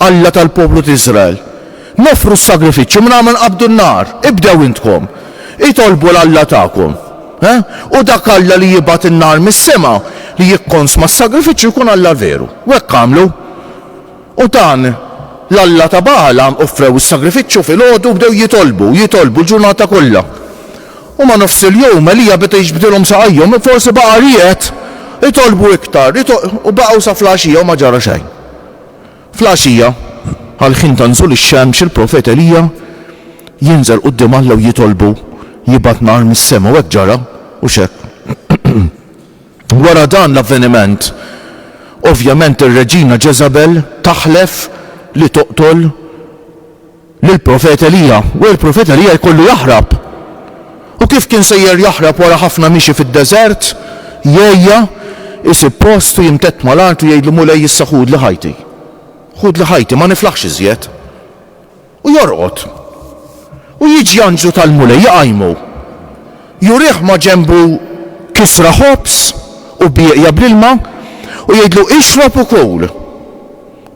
Alla tal-poplu t'Iżrael. Noffru s-sagrifiċċju mingħajr ma nqabbdu n-nar. Ibdew intkom. Itolbu 'l Alla tagħkom. Ħa? U dak Alla li jibgħat in-nar mis-sema li jikkonsma s-sagrifiċċju jkun Alla veru. U hekk għamlu. U dan l-alla ta' Bagħal għam offrew is-sagrifiċċju filgħodu u bdew jitolbu, jitolbu l-ġurnata kollha. U ma' nofs il-jum Elija beda jiġbdilhom saqajhom, forsi baqa' ried itolbu iktar, u baqgħu sa fl-għaxija u ma ġara xejn. Fl-għaxija, għall-ħin ta' nżul ix-xemx, il-profet Elija jinżel quddiem Alla u jitolbu jibgħat nar mis-sema, u hekk ġara, u x'hekk. Wara dan l-avveniment, ovvjament ir-reġina Ġeżabel taħlef li toqtol lill-profet Elija, u l-profet Elija jkollu jaħrab. U kif kien sejjer jaħrab wara ħafna mixi fid-deżert, jgħejja, isib post u jimtedd mal-art u jgħidlu, Mulej, issa ħudli ħajti. Ħudli ħajti, ma niflaħx iżjed. U jorqod. U jiġi anġlu tal-Mulej iqajmu. Jurih ma' ġenbu kisra ħobż u bieqja bl-ilma u jgħidlu, Ixrob u kul.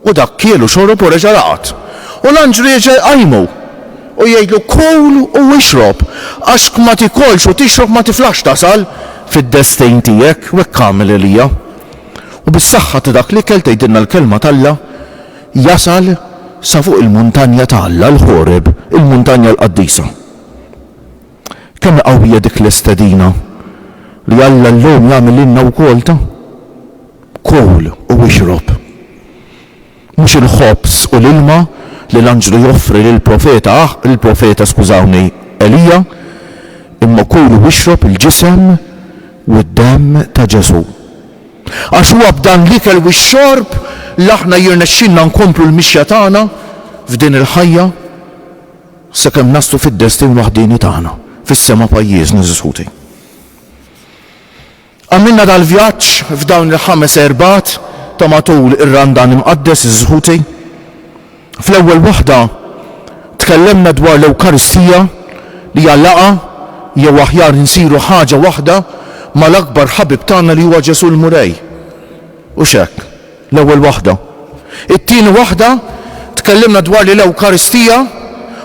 U dak kiel u xorob u reġa' raqad. U l-anġlu jerġa' jqajmu, u jgħidlu, Kul u ixrob, għax kma tiekolx u tixrob ma tiflaħx tasal fid-destejn tiegħek, u hekk għamel Elija. U bis-saħħa ta' dak l-ikel, tgħidilna l-Kelma t'Alla, jasal sa fuq il-muntanja ta' Alla, il-Ħoreb, il-muntanja l-qaddisa. Kemm hi qawwija dik l-istedina li Alla llum jagħmel lilna wkoll ta', Kul u ixrob. Mhux il-ħobż u l-ilma li l-anġlu joffri lill-profeta Aħ, lill-profeta, skużawni, Elija, imma kul u ixrob il-ġisem u d-demm ta' Ġesù. Għax huwa b'dan l-ikel u x-xorb li aħna jirnexxilna nkomplu l-mixja tagħna f'din il-ħajja. Sakemm naslu fid-destin waħdieni tagħna, fis-sema pajjiżna żiskuti. Għamilna dal-vjaġġ f'dawn il-ħames Erbgħat ta' matul ir-Randan Imqaddes żiskuti. Fl-ewwel waħda tkellemna dwar l-Ewkaristija li hija laqgħa jew aħjar insiru ħaġa waħda mal-akbar ħabib tagħna li huwa Ġesù l-Mulej. Hux hekk? L-ewwel waħda. It-tieni waħda, tkellimna dwar li l-Ewkaristija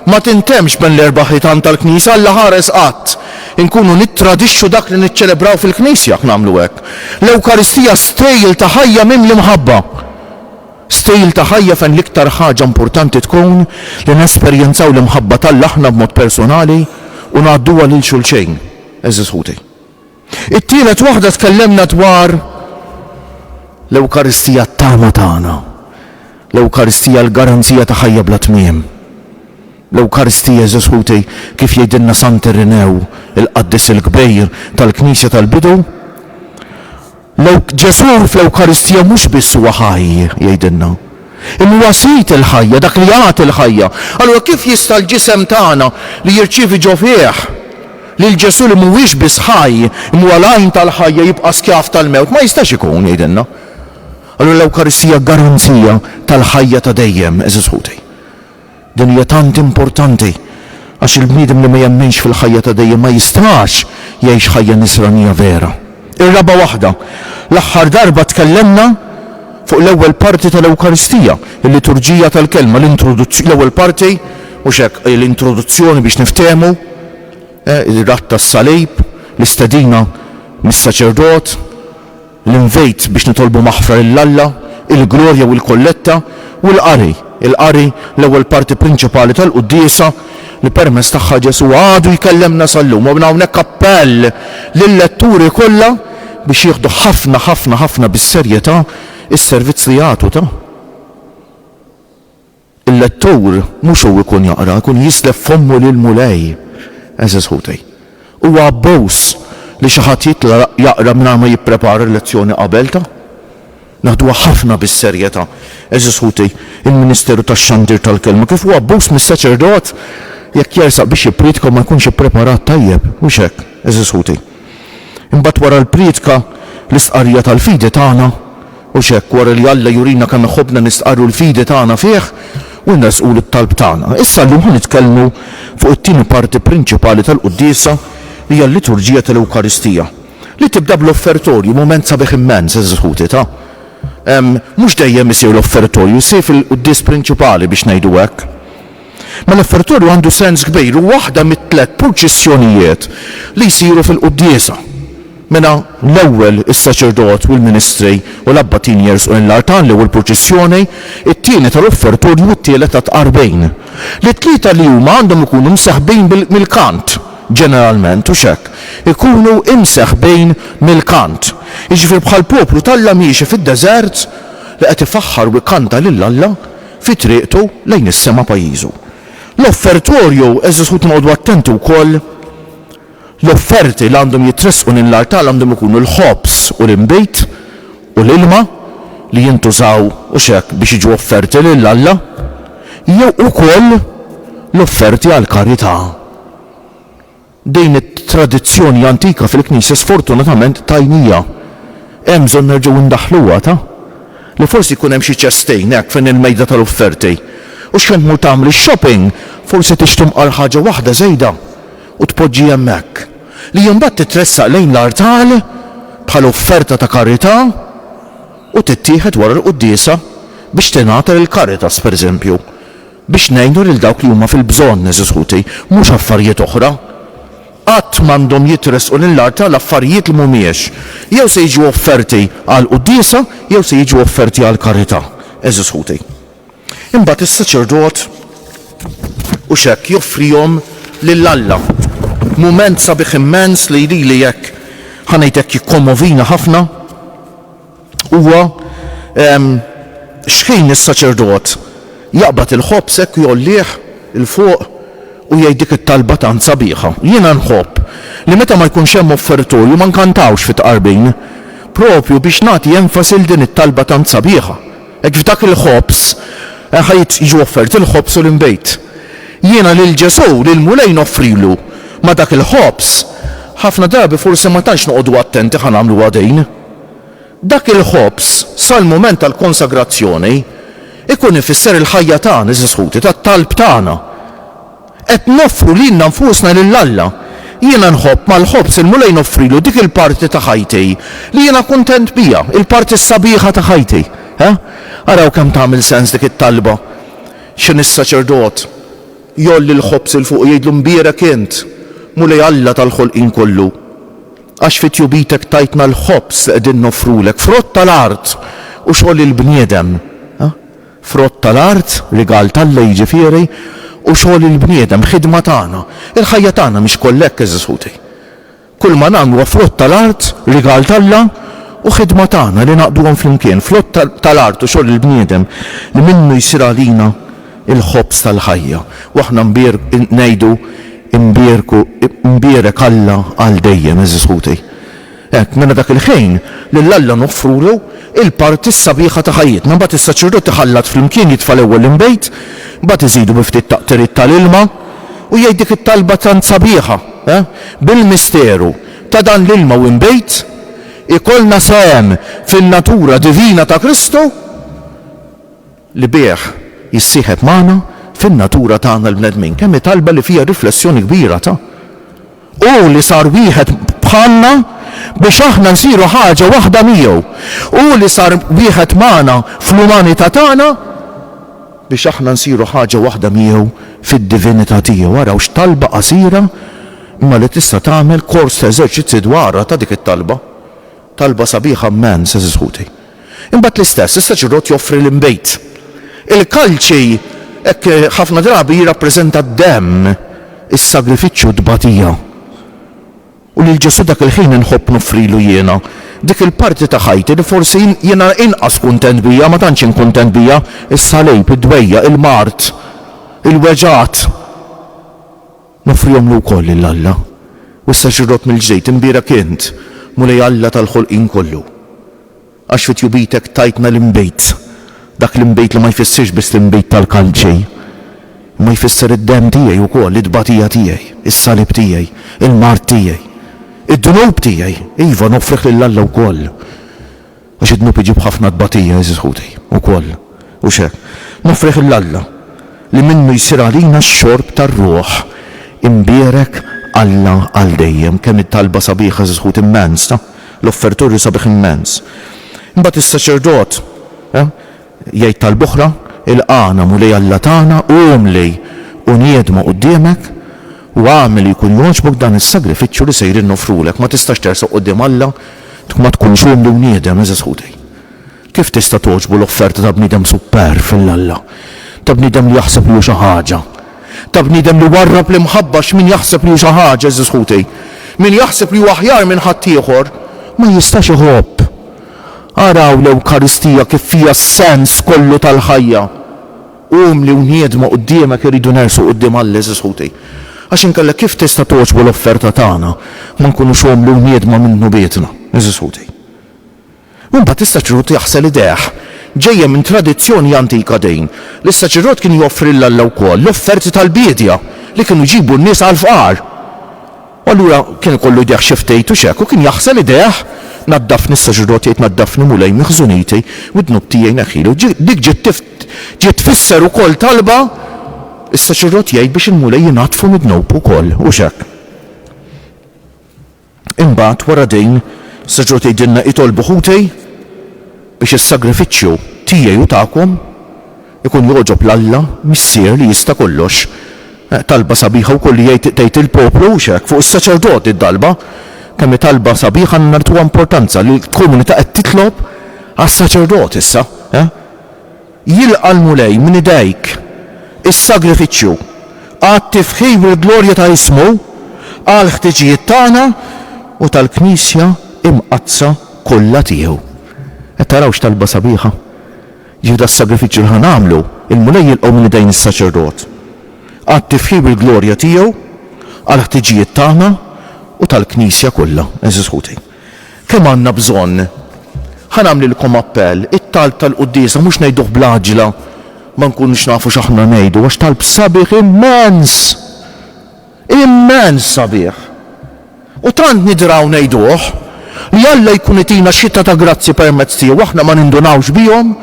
ma tintemmx bejn l-erba' ħitan tal-Knisja, Alla ħares qatt inkunu nittradixxu dak li niċċelebraw fil-Knisja jekk nagħmlu hekk. L-Ewkaristija stejl ta' ħajja mimli mħabba. Stejl ta' ħajja fejn l-iktar ħaġa importanti tkun li nesperjenzaw l-imħabba t'Alla aħna b'mod persunali u ngħadduha lil xulxejn, għeżież ħuti. It-tielet waħda tkellemna dwar l-Ewkaristija t-tama tagħna, l-Ewkaristija l-garanzija ta' ħajja bla tmiem. L-Ewkaristija, għeżież ħuti, kif jgħidilna Sant Irinew, il-qaddis il-kbir tal-Knisja tal-bidu, Ġesù fl-Ewkaristija mhux biss huwa ħaj, jgħidilna, imma huwa Sid il-ħajja, dak li jagħti l-ħajja. Allura kif jista' l-ġisem tagħna li jirċievi ġo fih lil Ġesù li mhuwiex biss ħaj, imma huwa l-għajn tal-ħajja jibqa' skjav tal-mewt? Ma jistax ikun, jgħidilna. Allura l-Ewkaristija garanzija tal-ħajja ta' dejjem, għeżież ħuti. Din hija tant importanti, għax il-bniedem li ma jemminx fil-ħajja ta' dejjem ma jistax jgħix ħajja nisranija vera. Ir-raba' waħda, l-aħħar darba tkellemna fuq l-ewwel parti tal-Ewkaristija, il-liturġija tal-Kelma, l-introduzzjoni-l-ewwel parti, mhux hekk, l-introduzzjoni biex niftehmu, ir-ratt tas-salib, l-istedina mis-saċerdot, L-invit biex nitolbu maħfra lil Alla, il-Glorja u l-Kolletta, u l-Qari, il-Qari, l-ewwel parti prinċipali tal-Quddiesa, li permezz tagħha Ġesù għadu jkellemna sal-lum. U minn hawnhekk appell lil-letturi kollha biex jieħdu ħafna, ħafna, ħafna bis-serjetà s-servizz li jagħtu ta'. Il-lettur mhux hu jkun jaqra, jkun jislef fommu lill-Mulej, għeżież ħuti. Huwa abbuż li xi ħadd jitla' jaqra mingħajr ma jipprepara l-lezzjoni qabel, ta? Naħduha ħafna bis-serjetà, għeżież ħuti, il-ministeru tax-xandir tal-Kelma, kif hu abbuż mis-saċerdot jekk jersaq biex jippriedka u ma jkunx ippreparat tajjeb, mhux hekk, għeżież ħuti? Imbagħad wara l-prietka, l-istqarrija tal-fidi tagħna, u x'hekk, wara li Alla jurina kemm iħobbna nistqarru l-fidi tagħna fih u nressqulu t-talb tagħna. Issa llum ħa nitkellmu fuq it-tieni parti prinċipali tal-quddiesa li hija l-liturġija tal-Ewkaristija, li tibda bl-offertorju, mument sabiħ immens, għeżież ħuti, ta'. Mhux dejjem isir l-offertorju, jsir fil-quddies prinċipali biex ngħidu hekk. Mela f-Fertorju għandu sens kbir, hu waħda mit-tliet purċissjonijiet li jsiru fil-quddiesa. Mela l-ewwel is-saċerdot u l-ministri u l-abbatin jersqu lejn l-artal, l-ewwel purċissjoni, it-tieni ta' Ruħ Fertorju u t-tielet ta' Tqarbin. Li t-tlieta li huma għandhom ikunu mseħbin mill-kant, ġeneralment, hux hekk? Ikunu imseħbin mill-kant. Jiġifieri bħall-poplu t'Alla miexi fid-deżert li qed ifaħħar u jkanta lil Alla, fi triqtu lejn is-sema pajjiżu. L-offertorju, għeżież ħuti noqogħdu attenti wkoll, l-offerti li għandhom jitressqu lejn l-artal għandhom ikunu l-ħobż u l-inbid u l-ilma li jintużaw u x'hekk biex jiġu offerti lil Alla, jew ukoll l-offerti għall-karità. Din it-tradizzjoni antika fil-Knisja sfortunatament tajnija. Hemm bżonn nerġgħu ndaħħluha, ta? Li forsi jkun hemm xi ċestejn hekk fejn il-mejda tal-offerti. U x'fejn tmur tagħmel ix-shopping forsi tixtri mqar ħaġa waħda żejda u tpoġġi hemmhekk. Li imbagħad titressaq lejn l-artal bħala offerta ta' karità u tittieħed wara l-quddiesa biex tingħata lill-Caritas, pereżempju. Biex ngħinu lil dawk li huma fil-bżonn, għeżież ħuti, mhux affarijiet oħra. Qatt m'għandhom jitressqu lill-artal affarijiet li m'humiex. Jew se jiġu offerti għall-quddiesa jew se jiġu offerti għall-karità, għeżież ħuti. Imbagħad is-saċerdot hux hekk joffrihom lil Alla. Mument sabiħ immens li lili hekk, ħa ngħid hekk, jikkommovina ħafna. Huwa, Ehm, xħin is-saċerdot jaqbad il-ħobż hekk u jgħollih 'l fuq u jgħid dik it-talba tant sabiħa. Jiena nħobb li meta ma jkunx hemm offertorju ma nkantawx fit-tqarbin, proprju biex nagħti enfasi 'l din it-talba tant sabiħa. Hekk f'dak il-ħobż ħa jiġu offerti l-ħobż u l-inbid. Jiena lil Ġesù, lill-Mulej noffrilu ma' dak il-ħobż. Ħafna drabi forsi ma tantx noqogħdu attenti ħa nagħmluha din. Dak il-ħobż, sal-mument tal-konsagrazzjoni, ikun ifisser il-ħajja tagħna, għeżież ħuti, tat-talb tagħna. Qed noffru lilna nfusna lil Alla. Jiena nħobb mal-ħobż il-Mulej noffrilu dik il-parti ta' ħajti li jiena kuntent biha, il-parti s-sabiħa ta' ħajti. Ha? Araw kemm tagħmel sens dik it-talba. X'inhi s-saċerdot? Jgħolli l-ħobż 'il fuq u jgħidlu, Mbierek int, Mulej Alla tal-ħolqien kollu. Għax fi tjubitek tajtna l-ħobż li qegħdin noffrulek, frott tal-art u xogħol il-bniedem. Frott tal-art, rigal t'Alla jiġifieri, u xogħol il-bniedem, ħidma tagħna. Il-ħajja tagħna mhix kollha hekk, għeżież ħuti. Kulma nagħmlu huwa frott tal-art, rigal t'Alla, u ħidma tagħna li ngħaqqduhom flimkien, frott tal-art u xogħol il-bniedem li minnu jsir għalina il-ħobż tal-ħajja. U aħna ngħidu, Imbierku, imbierek Alla għal dejjem, għeżież ħuti. Hekk, mela dak il-ħin, lil Alla noffrulu l-parti s-sabiħa ta' ħajjitna. Imbagħad is-saċerdot iħallat flimkien, jitfa' l-ewwel l-inbid, imbagħad iżidu bi ftit taqtiriet tal-ilma, u jgħid dik it-talba tant sabiħa, ha? Bil-misteru ta' dan l-ilma u inbid, ikollna sehem fin-natura divina ta' Kristu, li bih jissieħeb magħna fin-natura tagħna l-bnedmin, kemm hi talba li fiha riflessjoni kbira ta', Hu li sar wieħed bħalna biex aħna nsiru ħaġa waħda miegħu, Hu li sar wieħed magħna fl-umanità tagħna biex aħna nsiru ħaġa waħda miegħu fid-divinità tiegħu. Araw x'talba qasira imma li tista' tagħmel kors ta' eżerċizzji dwarha ta' dik it-talba. Talba sabiħa mmens, għeżież ħuti. Imbagħad l-istess, l-istess irrott joffri l-inbid. Il-kalċi hekk ħafna drabi jirrappreżenta d-demm, is-sagrifiċċju, t-tbatija. U lil Ġesù dak il-ħin inħobb noffrilu jiena dik il-parti ta' ħajti li forsi jiena inqas kuntent biha, ma tantx int kuntent biha, is-salib, id-dwejjaq, il-mard, il-weġgħat. Noffrihomlu wkoll lil Alla. U issa xirrott mill-ġdid, imbierek int, Mulej Alla tal-ħolqien kollu. Għax fi tjubitek tajtna l-inbid, dak l-inbid li ma jfissirx biss l-inbid tal-kalċi, imma jfisser id-demm tiegħi wkoll, it-tbatija tiegħi, is-salib tiegħi, il-mard tiegħi, id-dnub tiegħi, iva, noffrih lil Alla wkoll. Għax id-dnub iġib ħafna tbatija, għeżież ħuti, ukoll. Hux hekk? Noffrieh 'l Alla, li minnu jsir għalina x-xorb tar-Ruħ imbierek Alla għal dejjem. Kemm hi talba sabiħa, għeżież ħuti, immens, ta? L-offertur hu sabiħ immens. Imbagħad is-saċerdot, eh? Jgħid talb'oħra, Ilqagħna, Mulej Alla tagħna, u umli, u niedmu quddiemek, u agħmel li jkun jogħġbok dan is-sagrifiċċju li sejrin noffrulek. Ma tistax tersaq quddiem Alla jekk ma tkunx umli u niedem, għeżież ħutej. Kif tista' togħġbu l-offerta ta' bniedem superv lil Alla, ta' bniedem li jaħseb li hu xi ħaġa, ta' bniedem li warrab l-imħabba? X'min jaħseb li hu xi ħaġa, għeżież ħutej, min jaħseb li hu aħjar minn ħaddieħor, ma jistax iħobb. Araw l-Ewkaristija kif fiha s-sens kollu tal-ħajja. Umli u niedma quddiemek irridu nersqu quddiem Alla, għeżież ħuti. Għax inkella kif tista' togħġbu l-offerta tagħna ma nkunux umli u niedma minnu bietna, għeżież ħuti. U mbagħad is-saċerdot jaħsel idejh. Ġejja minn tradizzjoni antika din, li s-saċerdot kien joffri 'l Alla wkoll l-offerti tal-biedja li kienu jġibu n-nies għall-fqar. U allura kien ikollu jdejh xi ftit u x'hekk, u kien jaħsel idejh, Naddafni, s-saċerdot jgħid, Naddafni, Mulej, miħżuniti, u d-dnub tiegħi neħħili. U dik ġiet ġiet tfisser ukoll talba, is-saċerdot jgħid biex il-Mulej jnaddfu mid-dnub ukoll, u x'hekk. Imbagħad wara din, is-saċerdot jgħidilna, Itolbu ħuti biex is-sagrifiċċju tiegħi u tagħkom Ikun jogħġob 'l Alla, Missier li jista' kollox. Talba sabiħa wkoll li jgħid tgħid il-poplu, hux hekk, fuq is-saċerdot di t-talba. Kemm hi talba sabiħa għandna nagħtuha importanza li l-komunità qed titlob għas-saċerdot issa, eh? Jilqa' l-Mulej minn idejk is-sagrifiċċju għat-tifħir u l-glorja ta' ismu għall-ħtiġijiet tagħna u tal-Knisja Imqaddsa kollha tiegħu. Qed taraw x'talba sabiħa? Jieħu das-sagrifiċċju li ħa nagħmlu, il-Mulej jilqgħu minn idejn is-saċerdot. Għad tifħir bil-glorja tiegħu għall-ħtiġijiet tagħna u tal-Knisja kollha, għeżież ħuti. Kemm għandna bżonn! Ħa nagħmlilkom appell, it-talb tal-quddiesa mhux ngħiduh bl-għaġġla ma nkunux nafu x'aħna ngħidu għax talb sabiħ immens! Immens sabiħ! U tant nidraw ngħiduh, li Alla jkun itina xita ta' grazzji permezz tiegħu aħna ma nindunawx bihom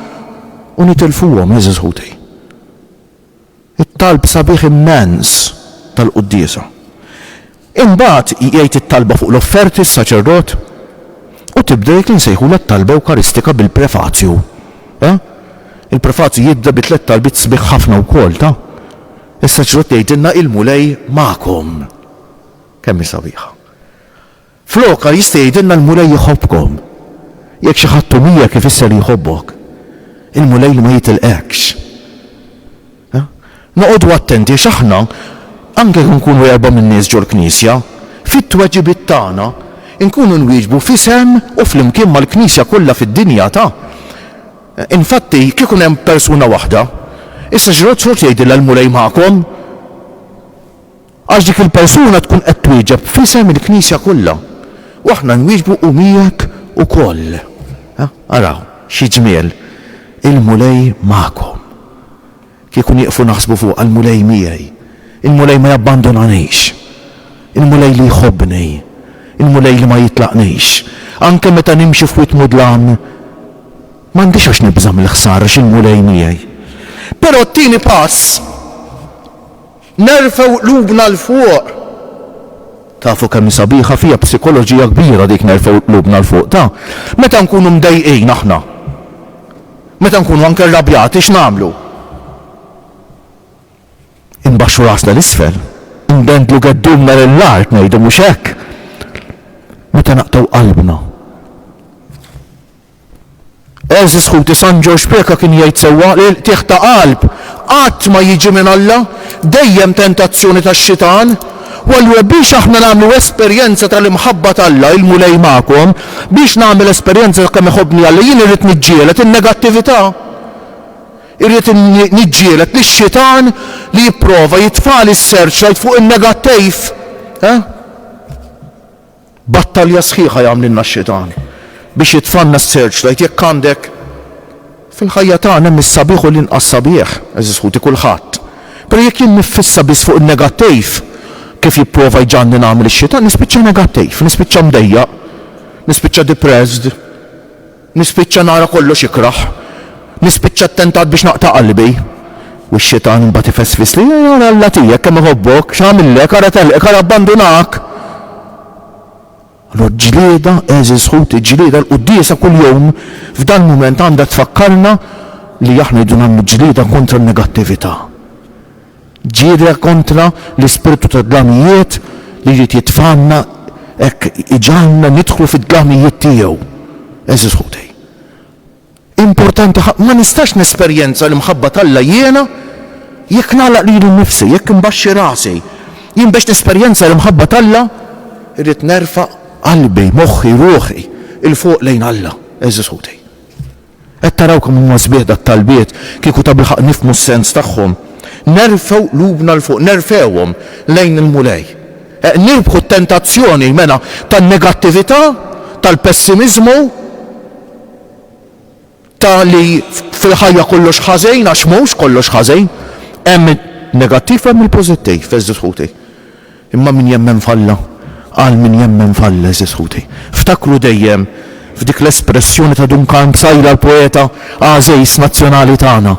u nitilfuhom, għeżież ħuti. It-talb sabiħ immens tal-quddiesa. Imbagħad jgħid it-talba fuq l-offerti s-saċerdot, u tibda dik li nsejħulha t-talba ewkaristika bil-prefazju. Ta? Il-prefazju jibda bi tliet talbiet sbieħ ħafna wkoll, ta? Issa ġrot tgħidilna il-Mulej magħkom. Kemm hi sabiħa. Flokha jista' jgħidilna l-Mulej iħobbkom. Jekk xi ħadd hu miegħek ifisser li jħobbok. Il-Mulej li ma jitilqekx. Noqogħdu attenti għax aħna, anke jekk nkunu erba' min-nies ġol-Knisja, fit-tweġibiet tagħna nkunu nwieġbu f'isem u flimkien mal-Knisja kollha fid-dinja ta' Infatti, kieku kien hemm persuna waħda, issa xi rrid tħoss jgħidilha l-Mulej magħkom? Għax dik il-persuna tkun qed twieġeb f'isem il-Knisja kollha, u aħna nwieġbu u miegħek ukoll. Araw, xi ġmiel, il-Mulej magħkom. Kieku nieqfu naħsbu fuq għall-Mulej miegħi, il-Mulej ma jabbandunanix, il-Mulej li jħobbni, il-Mulej li ma jitlaqnix, anke meta nimxi f'wied mudlam, m'għandix għax nibża' mill-ħsara għax il-Mulej miegħi. Però t-tieni pass. Nerfgħu qlubna 'l fuq. Tafu kemm hi sabiħa, fiha psikoloġija kbira dik nerfgħu qlubna 'l fuq, ta? Meta nkunu mdejqin aħna, meta nkunu anke rrabjati x'nagħmlu? Inbaxxu rasna 'l isfel, indendlu geddumna lill-art ngħidu mhux hekk? Meta naqtgħu qalbna. Għeżież ħuti San Ġorġ Preca kien jgħid sewwa li l-qtigħ ta' qalb qatt ma jiġi minn Alla, dejjem tentazzjoni tax-xitan. U allura biex aħna nagħmlu esperjenza tal-imħabba t'Alla, il-Mulej magħkom, biex nagħmel esperjenza ta' kemm iħobbni Alla, jien irrid niġġieled in-negattività. Irrid niġġieled lix-xitan li jipprova jitfagħli s-searchlight fuq in-negattiv. Eh? Battalja sħiħa jagħmlilna x-xitan biex jitfanna s-search light jekk għandek Fil-ħajja tagħna hemm is-sabiħ u l-inqas sabiħ, għeżież ħuti, kulħadd. Però jekk jien niffissa biss fuq in-negattiv, kif jipprova jġagħalni nagħmel ix-xitan, nispiċċa negattiv, nispiċċa mdejjaq, nispiċċa depressed. Nispiċċa nara kollox ikrah. Nispiċċa ttentat biex naqta' qalbi. U x-Xitan imbagħad ifesfisli, Ara Alla tiegħek kemm iħobbok, x'għamillek, ara telqek, ara abbandunak! Allura ġlieda, għeżież ħuti, ġlieda, l-quddiesa kuljum f'dal-mument għandha tfakkarna li aħna rridu nagħmlu ġlieda kontra n-negattività. Ġirja kontra l-ispirtu tad-dlamijiet li jrid jitfgħanna hekk iġagħalna nidħlu fid-dlamijiet tiegħu. Għeżież ħutej, importanti ħafna, ma nistax nesperjenza l-imħabba t'Alla jiena jekk nagħlaq lili nnifsi, jekk imbaxxi rasi. Jien biex nesperjenza l-imħabba t'Alla rrid nerfa' qalbi, moħħi, ruħi 'l fuq lejn Alla. Għeżież ħutej. Qed taraw kemm huma sbieħ dat-talbiet, kieku tabilħaqq nifhmu s-sens tagħhom. Nerfgħu qlubna 'l fuq, nerfgħuhom lejn il-Mulej. Eq nirbħu t-tentazzjoni, mela, tan-negattività, tal-pessimiżmu, ta' li fil-ħajja kollox ħażin, għax mhux kollox ħażin. Hemm in-negattiv u hemm il-pożittiv, għeżież ħuti. Imma min jemmen f'Alla, għal min jemmen f'Alla, għeżież ħuti, ftakru dejjem f'dik l-espressjoni ta' Duncan Psaila l-poeta għażiż nazzjonali tagħna,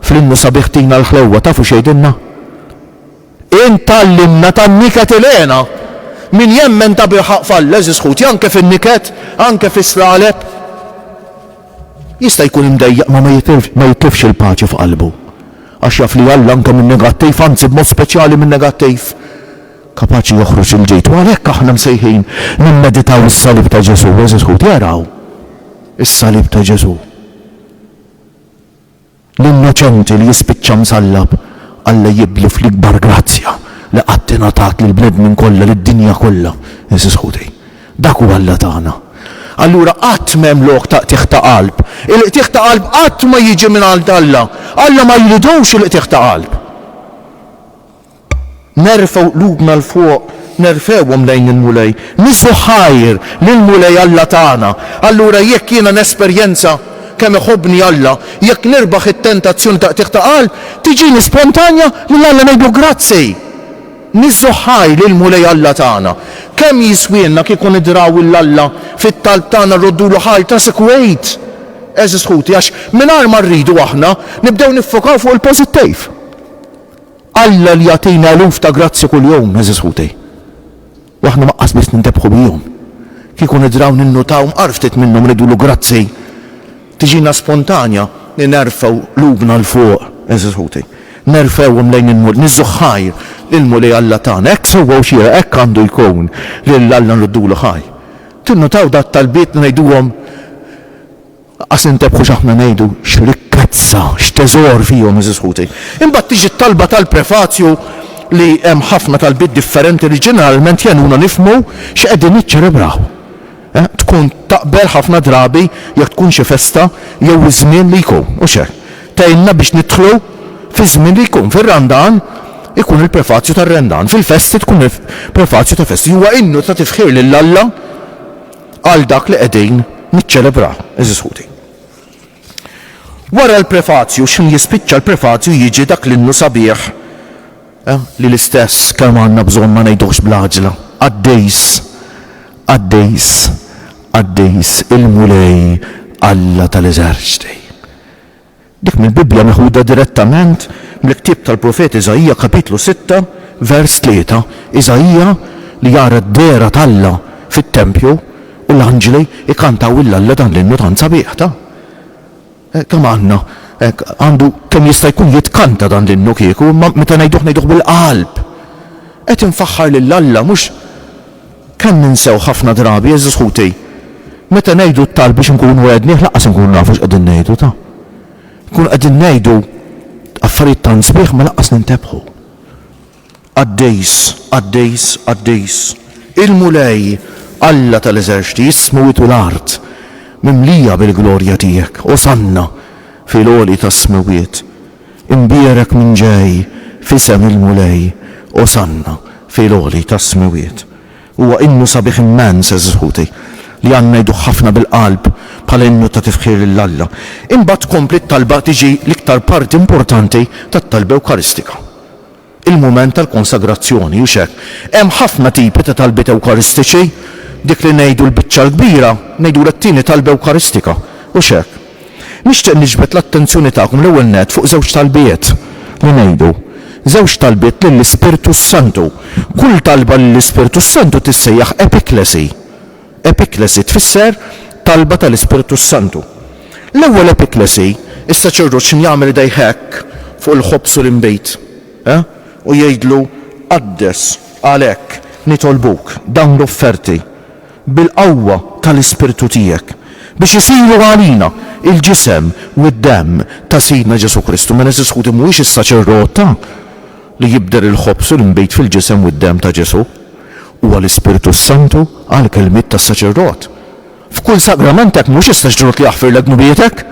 fl-innu sabiħ Tina l-ħlewwa, tafu x'jgħidilna? Int tgħallimna tan-niket ilgħena! Min jemmen tabilħaqq f'Alla, għeżież ħuti, anke fin-niket, anke fis-slaleb. Jista' jkun imdejjaq ma ma jitlifx il-paċi f'qalbu għax jaf li Alla anke min-negattiv, anzi b'mod speċjali min-negattiv, kapaċi joħroġ il-ġid. U għalhekk aħna msejħin nimmeditaw is-salib ta' Ġesù, għeżież ħuti araw is-salib ta' Ġesù. L-innoċenti li jispiċċa msallab, Alla jibdlu fl-ikbar grazzja li qatt ingħatat lill-bnedmin kollha, lid-dinja kollha, għeżież ħuti. Dak hu Alla tagħna. Allura qatt m'hemm lok ta' qtigħ ta' qalb. Il-qtigħ ta' qalb qatt ma jiġi mingħand Alla. Alla ma jridux il-qtigħ ta' qalb. Nerfgħu qlubna 'l fuq, nerfgħuhom lejn il-Mulej. Nieżżu ħajr lill-Mulej Alla tagħna. Allura jekk jiena nesperjenza kemm iħobbni Alla, jekk nirbaħ it-tentazzjoni ta' qtigħ ta' qalb, tiġini spontanja lil Alla ngħidlu grazzi. Nieżżu ħajr lill-Mulej Alla tagħna. Kemm jiswielna kieku nidraw 'l Alla fit-talb tagħna rroddulu ħajr ta' sikwit, għeżież ħuti, għax mingħajr ma rridu aħna nibdew niffokaw fuq il-pożittiv. Alla li jagħtina eluf ta' grazzji kuljum, għeżież ħuti, u aħna mgħaqqas biss nintebħu bihom, kieku nidraw ninnutaw mqar ftit minnhom nidwlu grazzi, tiġina spontanja li nerfgħu qlubna 'l fuq, għeżież ħuti, nerfgħuhom lejn il-Mulej, niżżu ħajr lill-Mulej Alla tagħna. Hekk sewwa u xieraq, hekk għandu jkun, lil Alla nruddulu ħajr. Tinnutaw dat-talbiet li ngħiduhom? Qas intebħu x'aħna ngħidu, x'rikkezza, x'teżor fihom, għeżież ħuti. Imbagħad tiġi t-talba tal-prefazju li hemm ħafna talbiet differenti li ġeneralment jgħinuna nifhmu x'qegħdin niċċelebraw. Tkun taqbel ħafna drabi jekk tkun xi festa jew iż-żmien li jkun, hux hekk? Tgħinna biex nidħlu fiż-żmien li jkun. Fir-Randan ikun il-prefazju tar-Rendan, fil-festi tkun il-prefazju ta' festi. Huwa innu ta' tifħir lil Alla. għal dak li qegħdin niċċelebraw, għeżież ħuti. Wara l-prefazju, x'ħin jispiċċa l-prefazju jiġi dak l-innu sabiħ li l-istess kemm għandna bżonn ma ngħiduhx bl-għaġla, Qaddis, qaddis, qaddis il-Mulej Alla tal-eżerċti. Dik mill-Bibbja meħuda direttament mill-ktieb tal-profeta Iżaija kapitlu sitta vers tlieta. Iżaija li jara d-dehra t'Alla fit-tempju u l-anġli jkantaw lil Alla dan l-innu tant sabiħ ta'. Kemm għandna hekk għandu kemm jista' jkun jitkanta dan l-innu kieku imma meta ngħiduh ngħiduh bil-qalb. Qed infaħħar lil Alla mhux Kemm ninsew ħafna drabi, għeżież ħuti. Meta ngħidu t-talb biex inkunu għednieh laqqas inkunu nafu x'qegħdin ngħidu, ta. Nkunu qegħdin ngħidu affarijiet tant sbieħ ma laqqas nintebħu. Qaddis, qaddis, qaddis, il-Mulej, Alla tal-eżerċti, is-smewwiet u l-art mimlija bil-glorja tiegħek, osanna fil-għoli tas-smewwiet. Imbierek min ġej f'isem il-Mulej, Osanna fil-għoli tas-Smewwiet. Huwa innu sabiħ immens, għeżież ħuti, li għandna ngħiduh ħafna bil-qalb bħala innu ta' tifħir lil Alla. Imbagħad tkompli t-talba tiġi l-iktar parti importanti tat-talba Ewkaristika. il-mument tal-konsagrazzjoni, hux hekk? Hemm ħafna tipi ta' talbiet ewkaristiċi, dik li ngħidu l-biċċa l-kbira, ngħidulha t-tieni talba ewkaristika, hux hekk? Nixtieq niġbed l-attenzjoni tagħkom l-ewwel nett fuq żewġ talbiet li ngħidu, żewġ talbiet lill-Ispirtu s-Santu. Kull talba lill-Ispirtu s-Santu tissejjaħ epiklesi. Epiklesi tfisser talba tal-Ispirtu s-Santu. L-ewwel epiklesi, is-saċerdot x'inhu jagħmel idejh hekk fuq il-ħobż u l-inbid, ha? u jgħidlu, Qaddes, għalhekk, nitolbuk, dawn l-offerti, bil-qawwa tal-Ispirtu tiegħek, biex isiru għalina l-ġisem u d-demm ta' Sidna Ġesù Kristu. Mela, għeżież ħuti, mhuwiex is-saċerdot ta. li jibdel il-ħobż u l-inbid fil-ġisem u d-demm ta' Ġesù, huwa l-Ispirtu s-Santu għall-kelmiet tas-saċerdot. F'kull sagrament hekk mhux is-saċerdot li jaħfirlek dnubietek,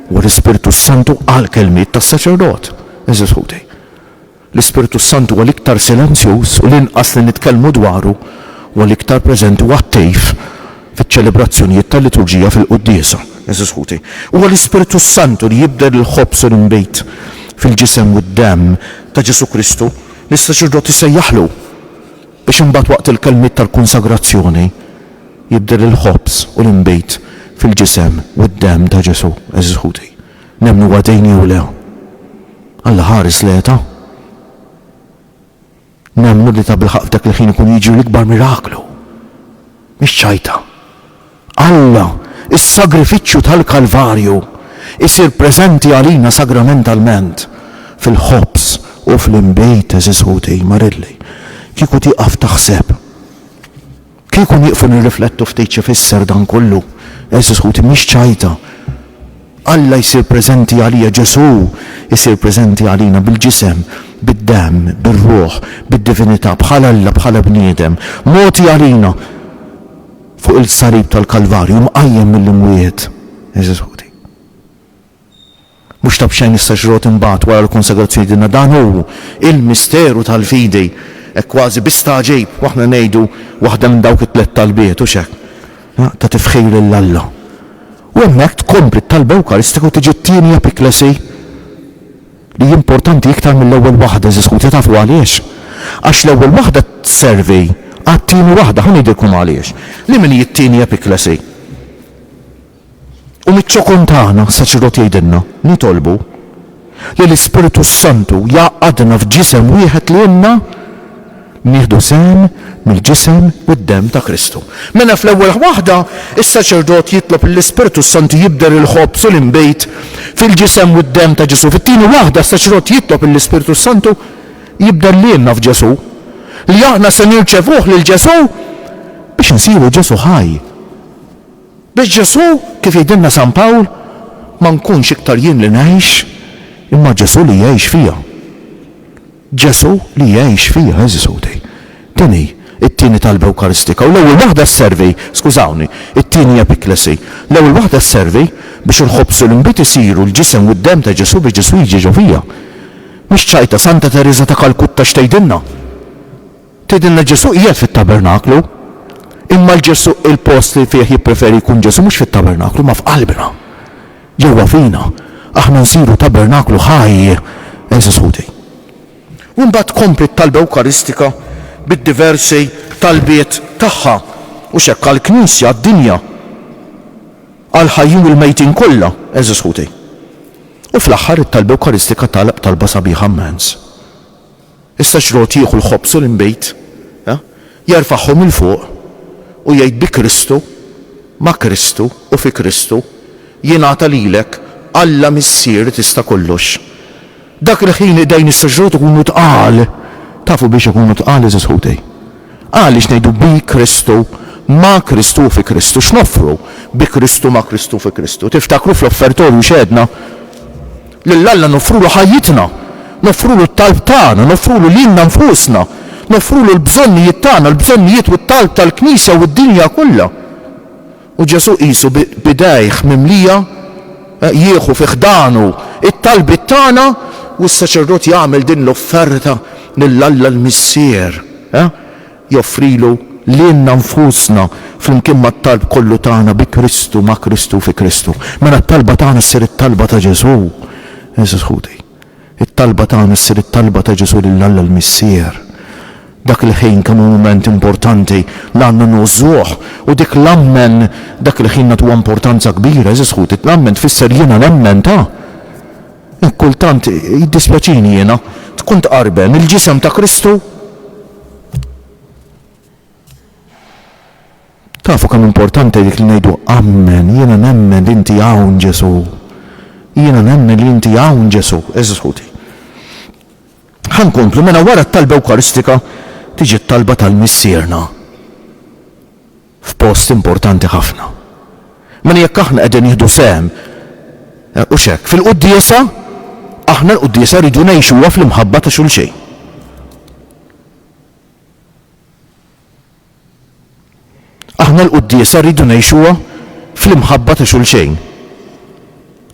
huwa l-Ispirtu s-Santu għall-kelmiet tas-saċerdot. Għeżież ħuti, l-Ispirtu s-Santu huwa l-iktar silenzjuż u l-inqas li nitkellmu dwaru huwa l-iktar preżenti u attiv. fiċ-ċelebrazzjonijiet tal-liturġija fil-quddiesa. Għeżież ħuti, huwa l-Ispirtu s-Santu li jibdel il-ħobż u l-inbid fil-ġisem u d-demm ta' Ġesù Kristu li s-saċerdot isejjaħlu biex imbagħad waqt il-kelmiet tal-konsagrazzjoni jibdel il-ħobż u l-inbid fil-ġisem u d-demm ta' Ġesù. Għeżież ħuti, nemmnu huwa dejn jew le? Alla ħares l-għeta. Nemmnu li tabilħaqq f'dak il-ħin ikun jiġri l-ikbar miraklu. Mhix ċajta. Alla, is-sagrifiċċju tal-Kalvarju, isir preżenti għalina sagramentalment, fil-ħobż u fl-inbid, għeżież ħuti, marilli, kieku tieqaf taħseb. Kieku nieqfu nirriflettu ftit x'ifisser dan kollu, għeżież ħuti, mhix ċajta. Alla jsir preżenti għalija, Ġesù jsir preżenti għalina bil-ġisem, bid-demm, bir-ruħ, bid-divinità, bħala Alla, bħala bniedem, mogħti għalina fuq il-salib tal-Kalvarju, mqajjem mill-imwiet, għeżież ħuti. Mhux ta' b'xejn is-saċerdot imbagħad wara l-konsagrazzjoni jgħidilna dan hu l-misteru tal-fidi, hekk kważi bi stagħġib u aħna ngħidu waħda minn dawk it-tliet talbiet, hux hekk? Ta' tifħir lil Alla. U hemmhekk tkompli t-talba ewkaristika u tiġi t-tieni epikleżi li hi importanti iktar mill-ewwel waħda, għeżież ħuti, tafu għaliex? Għax l-ewwel waħda tservi għat-tieni waħda, ħa ngħidilkom għaliex. Liema li hi t-tieni epikleżi? U miċ-ċokon tagħna, saċerdot jgħidilna, nitolbu li l-Ispirtu s-Santu jgħaqqadna f'ġisem wieħed li ilna nieħdu sehem mill-ġisem u d-demm ta' Kristu. Mela fl-ewwel waħda, is-saċerdot jitlob lill-Ispirtu s-Santu jibdel il-ħobż u l-inbid fil-ġisem u d-demm ta' Ġesù. Fit-tieni waħda, s-saċerdot jitlob lill-Ispirtu s-Santu jibdel lilna f'Ġesù, li aħna se nirċevuh lil Ġesù biex insiru Ġesù ħaj. Biex Ġesù, kif jgħidilna San Pawl, ma nkunx iktar jien li ngħix, imma Ġesù li jgħix fija. Ġesù li jgħix fija, għeżież ħuti. Din hi t-tieni talba ewkaristika u l-ewwel waħda sservi, skużawni, it-tieni epiklesi. L-ewwel waħda sservi biex il-ħobż u l-inbid isiru l-ġisem u d-demm ta' Ġesù biex Ġesù jiġi ġo fija. Mhix ċajta, Santa Tereża ta' Kalkutta x'tgħidilna? Tgħidilna li Ġesù qiegħed fit-tabernaklu, imma 'l Ġesù il-post li fih jippreferi jkun Ġesù mhux fit-tabernaklu ma f'qalbna, ġewwa fina, aħna nsiru tabernaklu ħaj, għeżież ħuti. U mbagħad tkompli t-talba ewkaristika bid-diversi talbiet tagħha, hux hekk, għall-Knisja, għad-dinja, għall-ħajjin u l-mejtin kollha, għeżież ħuti. U fl-aħħar it-talba ewkaristika tagħlaq b'talba sabiħa mmens. Issa xrot jieħu l-ħobż u l-inbid, jerfagħhom 'il fuq u jgħid, Bi Kristu, ma' Kristu u fi Kristu, jingħata lilek, Alla Missier Tista' Kollox. Dak il-ħin idejn issa xrot ikunu tqal. Tafu biex ikunu tqal, għeżież ħuti? Għaliex ngħidu bi Kristu, ma' Kristu u fi Kristu. X'noffru bi Kristu, ma' Kristu u fi Kristu? Tiftakru fl-offertorju x'għedna? Lil Alla noffrulu ħajjitna, noffrulu t-talb tagħna, noffrulu lilna nfusna, noffrulu l-bżonnijiet tagħna, l-bżonnijiet u t-talb tal-Knisja u d-dinja kollha. U Ġesù qisu b'idejh mimlija jieħu fi ħdanu t-talbiet tagħna u s-saċerdot jagħmel din l-offerta lil Alla l-Missier. joffrilu lilna nfusna flimkien mat-talb kollu tagħna bi Kristu, ma' Kristu, fi Kristu. Mela t-talba tagħna ssir it-talba ta' Ġesù. Għeżież ħuti, it-talba tagħna ssir it-talba ta' Ġesù lil Alla l-Missier. Dak il-ħin kemm hu mument importanti li għandna ngħożżuh u dik l-Ammen dak il-ħin nagħtuha importanza kbira, għeżież ħuti, l-Ammen tfisser jiena nemmen ta'. Hekk kultant, jiddispjaċini jiena, tkun tqarben il-Ġisem ta' Kristu. Tafu kemm importanti dik li ngħidu ammen, jiena nemmen li inti hawn Ġesu. Jiena nemmen li inti hawn Ġesu, eżis ħuti. Ħan komplu mela wara t-talba Ewkaristika tiġi t-talba tal-Missierna. f'post importanti ħafna. Mela jekk aħna qegħdin nieħdu sehem, hux hekk, fil-quddiesa, aħna l-quddiesa rridu ngħixuha fl-imħabba ta' xulxejn. Aħna l-quddiesa rridu ngħixuha fl-imħabba ta' xulxejn.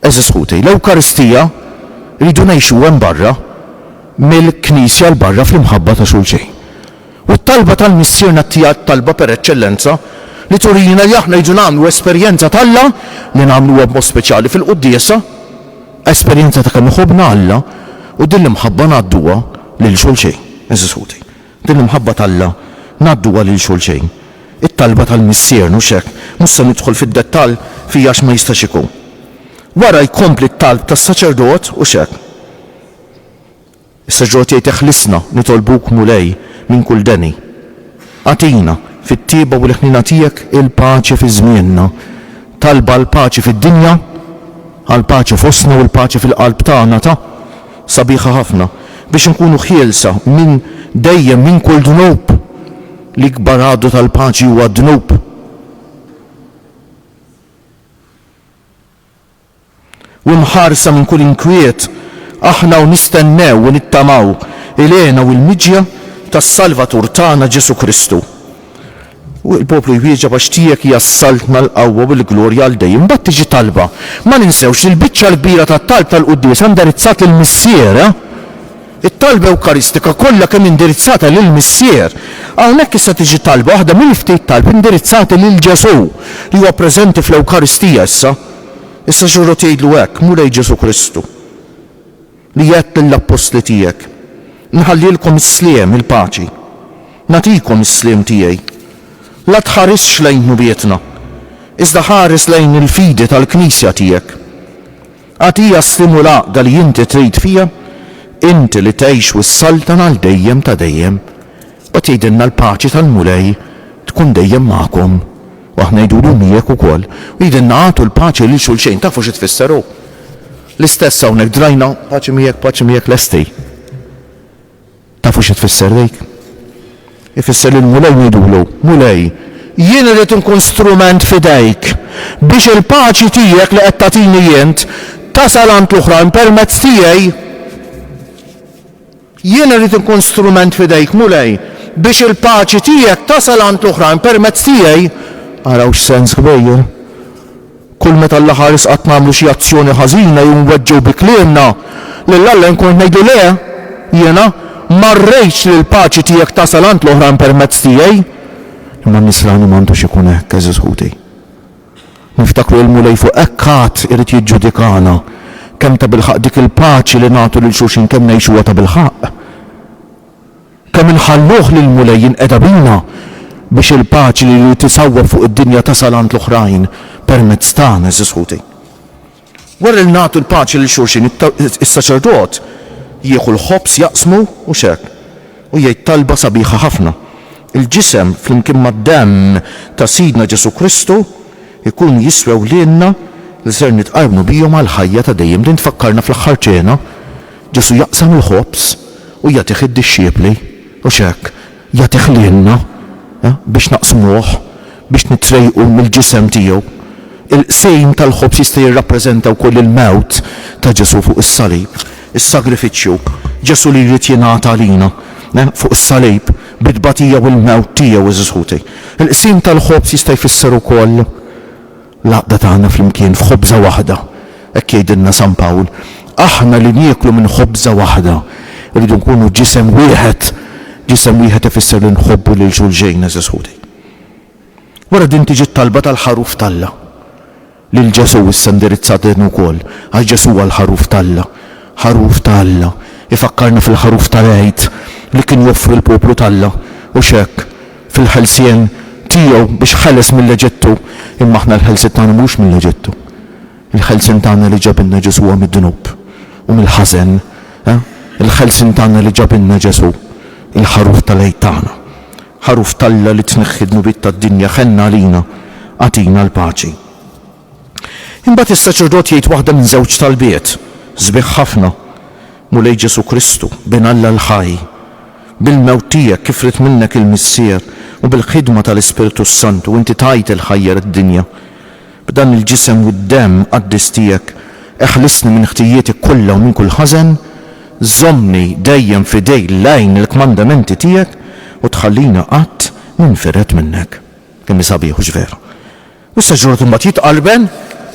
Għeżież ħuti, l-Ewkaristija rridu ngħixuha hemm barra mill-Knisja 'l barra fl-imħabba ta' xulxejn. U t-talba tal-Missierna hija t-talba per eċċellenza li turina li aħna rridu nagħmlu esperjenza t'Alla, li nagħmluha b'mod speċjali fil-quddiesa, esperjenza ta' kemm iħobbna Alla u din l-imħabba ngħadduha lil xulxejn, għeżież ħuti. Din l-imħabba t'Alla ngħadduha lil xulxejn. It-talba tal-Missier, mhux hekk? Mhux se nidħol fid-dettall fija għax ma jistax ikun. Wara jkompli t-talb tas-saċerdot, hux hekk? Is-saċerdot jgħid eħlisna, nitolbuk, Mulej, minn kull deni. Agħtina, fit-tjieba u l-ħniena tiegħek, il-paċi fi żmienna. Talba għall-paċi fid-dinja, għall-paċi fostna u l-paċi fil-qalb tagħna ta. sabiħa ħafna biex inkunu ħielsa minn dejjem minn kull dnub. L-ikbar għadu tal-paċi huwa d-dnub. U mħarsa minn kull inkwiet, aħna u nistennew u nittamaw il-għena u l-miġja tas-Salvatur tagħna Ġesù Kristu. U l-poplu jwieġeb, Għax tiegħek hija s-saltna, l-qawwa u l-glorja għal dejjem. Imbagħad tiġi talba. Ma ninsewx li l-biċċa l-kbira tat-talb tal-quddiesa hi indirizzat lill-Missier, eh! It-talba ewkaristika kollha kemm hi indirizzata lill-Missier. Hawnhekk issa tiġi talba, waħda mill-ftit talb indirizzati lil Ġesù, li huwa preżenti fl-Ewkaristija issa. Issa Ġurrot jgħidlu hekk, Mulej Ġesù Kristu. li għedt lill-appostli tiegħek, Inħallilkom is-sliem, il-paċi. Nagħtikom is-sliem tiegħi. La tħarisx lejn dnubietna, iżda ħares lejn il-fidi tal-Knisja tiegħek. Agħtiha s-sliem u l-għaqda li inti trid fiha, inti li tgħix u ssaltan għal dejjem ta' dejjem. U qed jgħidilna l-paċi tal-Mulej tkun dejjem magħkom. U aħna ngħidulu miegħek ukoll. U jgħidilna agħtu l-paċi lil xulxejn. Tafu xi tfisser hu? L-istess hawnhekk drajna paċi miegħek, paċi miegħek lesti. Tafu xi tfisser dik? Ifisser li l-Mulej ngħidulu, Mulej, jien irrid inkun strument f'idejk biex il-paċi tiegħek li qed tagħtini int tasal għand l-oħrajn permezz tiegħi. Jien irrid inkun strument f'idejk, Mulej, biex il-paċi tiegħek tasal għand l-oħrajn permezz tiegħi. Araw x'sens kbir! Kull meta Alla ħares qatt nagħmlu xi azzjoni ħażina jew nweġġgħu bi kliemna lil Alla jien kont ngħidlu le, jiena ma rridx li l-paċi tiegħek tasal għand l-oħrajn permezz tiegħi. Imma n-nisrani ma għandux ikun hekk, għeżież ħuti. Niftakru il-Mulej fuq hekk għad irid jiġġudikana. Kemm tabilħaqq dik il-paċi li nagħtu lil xulxin kemm ngħixuha tabilħaqq? Kemm inħalluh lill-Mulej jinqeda bina biex il-paċi li jrid isawwab fuq id-dinja tasal għand l-oħrajn permezz tagħna, għeżież ħuti? Wara li nagħtu l-paċi lil xulxin, is-saċerdot jieħu l-ħobż jaqsmu, mhux hekk? u jgħid talba sabiħa ħafna. Il-ġisem flimkien mad-demm ta' Sidna Ġesù Kristu jkunu jiswew lilna li ser nitqarrnu bihom għall-ħajja ta' dejjem. Din tfakkarna fl-aħħar ċena, Ġesù jaqsam il-ħobż u jagħtih id-dixxiepli, mhux hekk? Jagħtih lilna biex naqsmuh. biex nitrejqu mill-ġisem tiegħu. Il-qsim tal-ħobż jista' jirrappreżenta wkoll il-mewt ta' Ġesù fuq is-salib, is-sagrifiċċju, Ġesù li jrid jingħata għalina fuq is-salib bit-tbatija u l-mewt tiegħu, għeżież ħuti. Il-qsim tal-ħobż jista' jfisser ukoll l-għaqda tagħna flimkien f'ħobża waħda, hekk jgħidilna San Pawl. Aħna li nieklu minn ħobża waħda rridu nkunu ġisem wieħed. Ġisem wieħed ifisser li nħobbu lil xulxejn, għeżież ħuti. Wara din tiġi t-talba tal-Ħaruf t'Alla. Lil Ġesù issa indirizzat din ukoll, għax Ġesù huwa l-Ħaruf t'Alla. Ħaruf ta' Alla, ifakkarna fil-Ħaruf tal-Għid li kien joffri l-poplu t'Alla, u x'hekk, fil-ħelsien Tiegħu biex ħeles mill-Eġittu, imma aħna l-ħelsiet tagħna mhux mill-Eġittu. Il-ħelsien tagħna li ġabilna Ġesù huwa mid-dnub u mill-ħażen. Il-ħelsien tagħna li ġabilna Ġesù, il-Ħaruf tal-Għid tagħna. Ħaruf t'Alla li tneħħi d-dnubiet tad-dinja, ħenna għalina, agħtina l-paċi. Imbagħad is-saċerdot jgħid waħda minn żewġ talbiet sbieħ ħafna, Mulej Ġesù Kristu, Bin Alla l-ħaj, bil-mewt tiegħek kif ried minnek il-Missier u bil-ħidma tal-Ispirtu s-Santu inti tajt il-ħajja lid-dinja. B'dan il-ġisem u d-demm qaddis tiegħek eħlisni minn ħtijieti kollha u minn kull ħażen, żommni dejjem f'idej l-għajn il-kmandamenti tiegħek u tħallini qatt m'infired minnek. Kemm hi sabiħ, hux veru? U issa ġrort imbagħad jitqallben,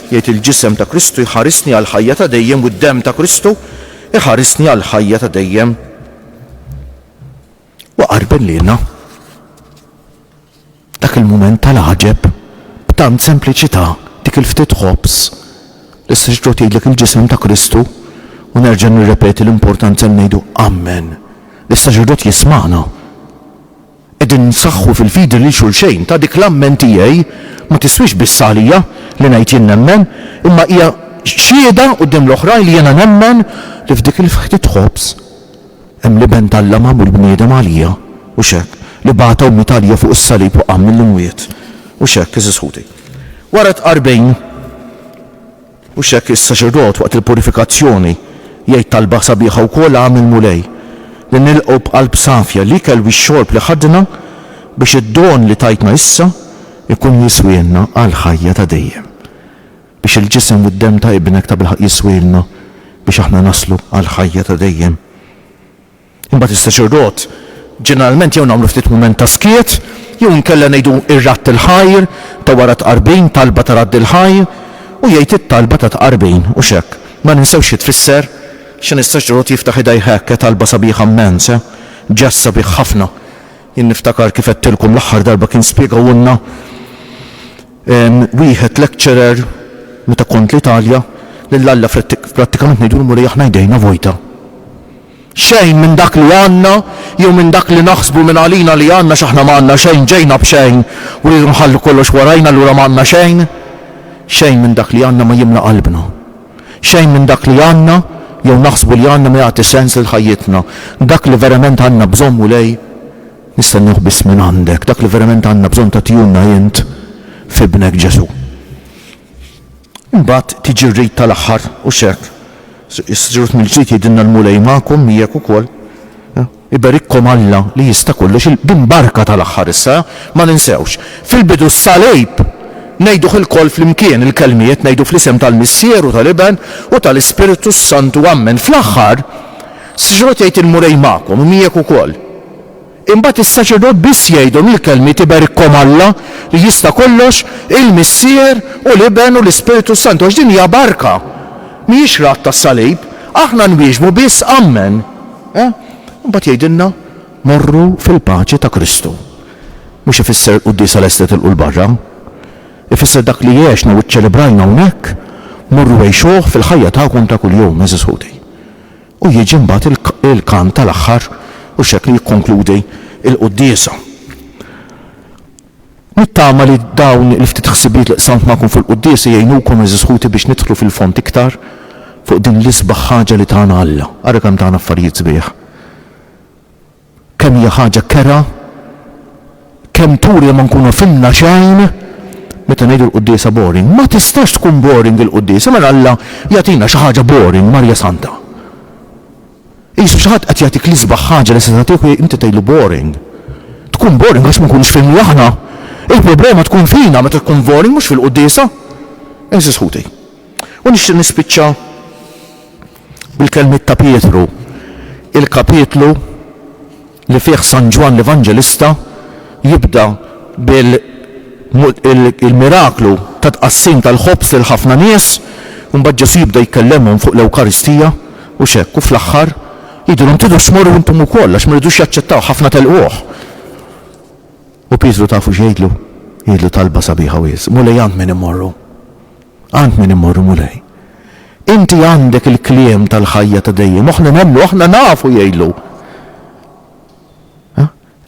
jgħid il-ġisem ta' Kristu jħarisni għall-ħajja ta' dejjem u d-demm ta' Kristu jħarisni għall-ħajja ta' dejjem. U qarben lilna. Dak il-mument tal-għaġeb, b'tant sempliċità, dik il-ftit ħobż, li se x'ġo tgħidlek il-Ġisem ta' Kristu, u nerġa' nirrepeti l-importanza li ngħidu Ammen, li s-Saċerdot jismagħna. Qegħdin nsaħħu fil-fidi lil xulxejn, ta' dik l-Ammen tiegħi ma tiswix biss għalija, li ngħid jien nemmen, imma hija xhieda quddiem l-oħrajn li jiena nemmen li f'dik il-ftit ħobż, Hemm li Bent Alla magħmul bniedem għalija, u x'hekk, li bagħata u miet għalija fuq is-salib u qam mill-imwiet, u x'hekk, għeżież ħuti. Wara t-tqarbin, u x'hekk is-saċerdot waqt il-purifikazzjoni jgħid talba sabiħa wkoll ha mill-Mulej, li nilqgħu b'qalb safja l-ikel u x-xorb li ħadna biex id-don li tajtna issa jkun jiswielna għall-ħajja ta' dejjem. biex il-ġisem u d-demm ta' Ibnek tabilħaqq jiswielna biex aħna naslu għall-ħajja ta' dejjem. Imbagħad istaċir rot, ġeneralment jew nagħmlu ftit mument ta' skiet, jew inkella ngħidu r-Radd il-Ħajr ta' wara t-Tqarbin, talba ta' Radd il-Ħajr, u jgħid it-talba ta' Tqarbin, u x'hekk. Ma ninsewx xi tfisser, x'inhi s-saċerdot jiftaħ idejh hekk, eh, talba sabiħa mmens, eh, ġest sabiħ ħafna. Jien niftakar kif għedtilkom l-aħħar darba kien spjegahulna, Wieħed lecturer meta kont l-Italja, lil Alla prattikament ngħidulhmu li aħna jdejna vojta. Xejn minn dak li għandna jew minn dak li naħsbu minn għalina li għandna x'aħna ma għandna xejn ġejna b'xejn u rridu nħallu kollox warajna allura ma għandna xejn. Xejn minn dak li għandna ma jimla qalbna. Xejn minn dak li għandna jew naħsbu li għandna ma jagħti sens lil ħajjitna. Dak li verament għandna bżonn Mulej, Nistennewh biss minn għandek. Dak li verament għandna bżonn tagħtihulna int f'Ibnek Ġesù. Imbagħad tiġi r-rit tal-aħħar, hux hekk? Is-Saċerdot mill-ġdid jgħidilna l-Mulej magħkom, miegħek ukoll. Iberikkom Alla li jista' kollox, din barka tal-aħħar issa, ma ninsewhx. Fil-bidu s-Salib! Ngħiduh ilkoll flimkien, il-kelmiet, ngħidu fl-isem tal-Missier u tal-Iben u tal-Ispirtu s-Santu, ammen. Fl-aħħar, s-Saċerdot jgħid il-Mulej magħkom u miegħek ukoll. Imbagħad is-saċerdot biss jgħidhom il-kelmiet Iberikkom Alla, li jista' kollox, il-Missier u l-Iben u l-Ispirtu s-Santu, għax din hija barka, mhijiex radd tas-salib. Aħna nwieġbu biss Ammen. Eh? Imbagħad jgħidilna, Morru fil-paċi ta' Kristu. Mhux ifisser quddiesa lesta tilqu 'l barra. Ifisser dak li għexna u ċċelebrajna hawnhekk, morru għixuh fil-ħajja tagħkom ta' kuljum, għeżież ħuti. U jiġi mbagħad il-kant tal-aħħar u x'hekk li jikkonkludi l-quddiesa. Nittama li dawn il-ftit ħsibijiet li qsamt magħkom fuq il-quddiesa jgħinukom għeżież ħuti biex nidħlu fil-fond iktar fuq din l-isbaħ ħaġa li tana Alla. Ara kemm tana affarijiet sbieħ. Kemm hija ħaġa kerha, kemm turi li ma nkunu fhimna xejn meta ngħidu l-quddiesa boring. Ma tistax tkun boring il-quddiesa, mela Alla jagħtina xi ħaġa boring, Marja Santa. Qisu xi ħadd qed jagħtik l-isbaħ ħaġa li se tagħtih u inti tgħidlu boring. Tkun boring għax ma nkunux fhimni aħna. Il-problema tkun fina meta tkun boring mhux fil-quddiesa. Eżis ħuti. U nixtieq nispiċċa Bil-kelmiet ta' Pietru, il-kapitlu li fih San Ġwann l-Evanġelista jibda bil-miraklu tat-tqassim tal-ħobż lil ħafna nies, u mbagħad Ġesù jibda jkellemhom fuq l-Ewkaristija, u x'hekk, u fl-aħħar jgħidilhom tridu tmorru intom ukoll għax ma ridux jaċċettawh, ħafna telquh. U Pietru tafu x'jgħidlu? Jgħidlu talba sabiħa wiesq, Mulej għand min immorru? Għand min immorru, Mulej? Inti għandek il-kliem tal-ħajja ta' dejjem. Aħna nemmnu, aħna nafu jgħidlu.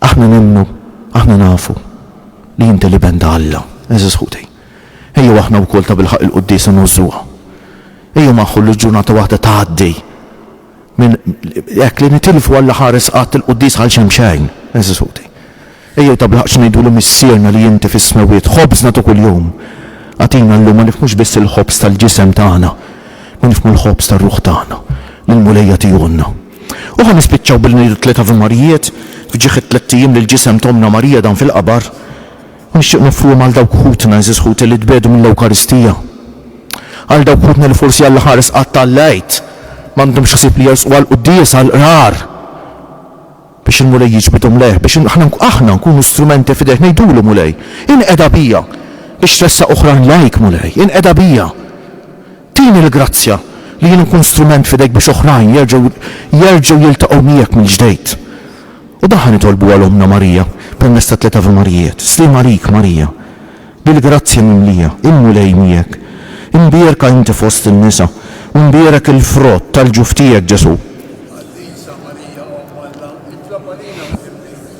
Aħna nemmnu, aħna nafu li inti li benda Alla, eżis ħuti. Ejju aħna wkoll ta' bilħaq il-quddisa nużuha. Ejju maħħu l-ġurnata waħda tgħaddi. minn hekk li nitilfu Alla ħares qatt il-Qudies għal xejn b'xejn. Eżis ħuti, ejjew tabilħaqq ngħidulu Missierna li inti fis-smewwiet, ħobżna ta' kuljum agħtina llum, ma nifhmux biss il-ħobż tal-ġisem tagħna, ma nifhmu l-ħobż tar-ruħ tagħna li l-Mulej jagħtihulna. U ħa nispiċċaw billi ngħidu tliet Ave Marijiet f'ġieħ it-tlett ijiem li l-ġisem t'Ommna Marija dam fil-qabar. U nixtieq noffrihom għal dawk ħutna, għeżież ħuti, li tbiegħdu mill-Ewkaristija. Għal dawk ħutna li forsi għall-aħħar isqatt ta' l-Għid m'għandhomx ħsieb li jersqu għall-quddiesa, għall-Qrar, biex il-Mulej jiġbidhom lejh, biex aħna nkunu strumenti f'idejh, ngħidulu, Mulej, inqeda bija biex tressaq oħrajn lejk, Mulej, inqeda bija Tini l-grazzja li jien nkun strument f'idejk biex oħrajn jerġgħu jerġgħu jiltaqgħu miegħek mill-ġdeid. U dan ħa nitolbu għal Ommna Marija permezz tat-tliet Ave Marijiet, Sliema għalik Marija, bil-grazzja mimlija, il-Mulej miegħek. Imbierka inti fost in-nisa, u mbierek il-frott tal-ġuf tiegħek, Ġesù. Għażiża Marija Omm Alla, itlob għalina mżimmija.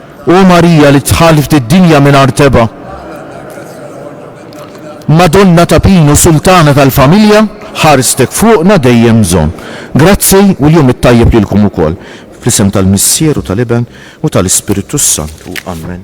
O Marija li dħalt id-dinja mingħajr tebgħa, Madonna ta' Pinu Sultana tal-Familja, ħarstek fuqna dejjem bżonn. Grazzi u l-jum it-tajjeb lilkom ukoll. Fl-isem tal-Missier u tal-Iben u tal-Ispirtu s-Santu. Amen.